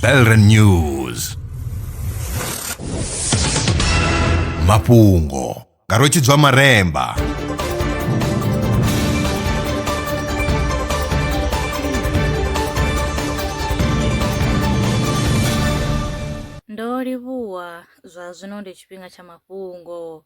Belren News mafhungo nga rwetshidzwa maremba ndo livhuwa zwa zwino ndi tshifhinga tsha mafhungo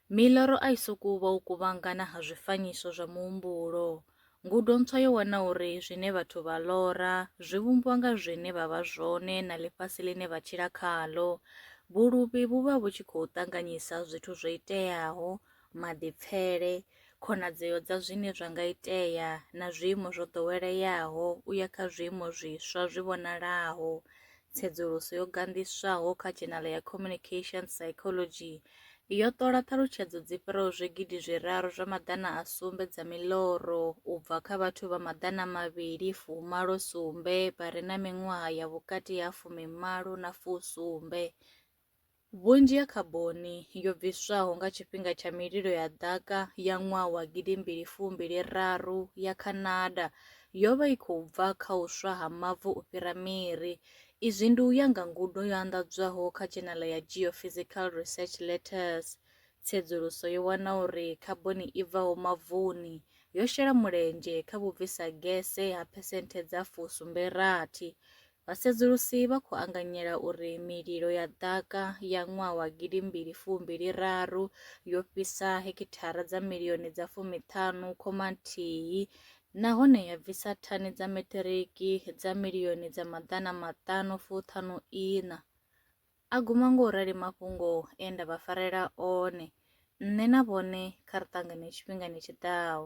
miloro a i sokou vha u kuvhangana ha zwifanyiso zwa muhumbulo Ngudo ntswa yo wana uri zwine vhathu vha lora zwi vhumbwa nga zwine vha vha zwone na ḽifhasi ḽine vha tshila khaḽo. Vhuluvhi vhu vha vhu tshi khou ṱanganyisa zwithu zwo iteaho, maḓipfele, khonadzeo dza zwine zwa nga itea na zwiimo zwo ḓoweleaho u ya kha zwiimo zwiswa zwi vhonalaho. Tsedzuluso yo ganḓiswaho kha dzhenala ya Communications Psychology yo ṱola ṱhalutshedzo dzi fhiraho zwigidi zwiraru zwa maḓana a sumbe dza miḽoro u bva kha vhathu vha maḓana mavhili fumalo sumbe vha re na miṅwaha ya vhukati ha fumimalo na fusumbe Vhunzhi ha khaboni yo bviswaho nga tshifhinga tsha mililo ya ḓaka ya ṅwaha wa gidi mbili fumbili raru ya Canada yo vha i khou bva kha u swa ha mavu u fhira miri. Izwi ndi u ya nga ngudo yo anḓadzwaho kha Dzhenala ya Geophysical Research Letters. Tsedzuluso yo wana uri khaboni i bvaho mavuni yo shela mulenzhe kha vhubvisa gese ha phesenthe dza fu sumbe rathi Vhasedzulusi vha khou anganyela uri mililo ya ḓaka ya ṅwaha wa gidi mbili fu mbili raru yo fhisa hekithara dza milioni dza fumi ṱhanu khoma nthihi nahone ya bvisa thani dza meṱiriki dza milioni dza maḓana maṱanu fu ṱhanu iṋa. A guma ngo rali mafhungo e nda vha farela one, nṋe na vhone kha ri ṱangane tshifhingani tshi ḓaho.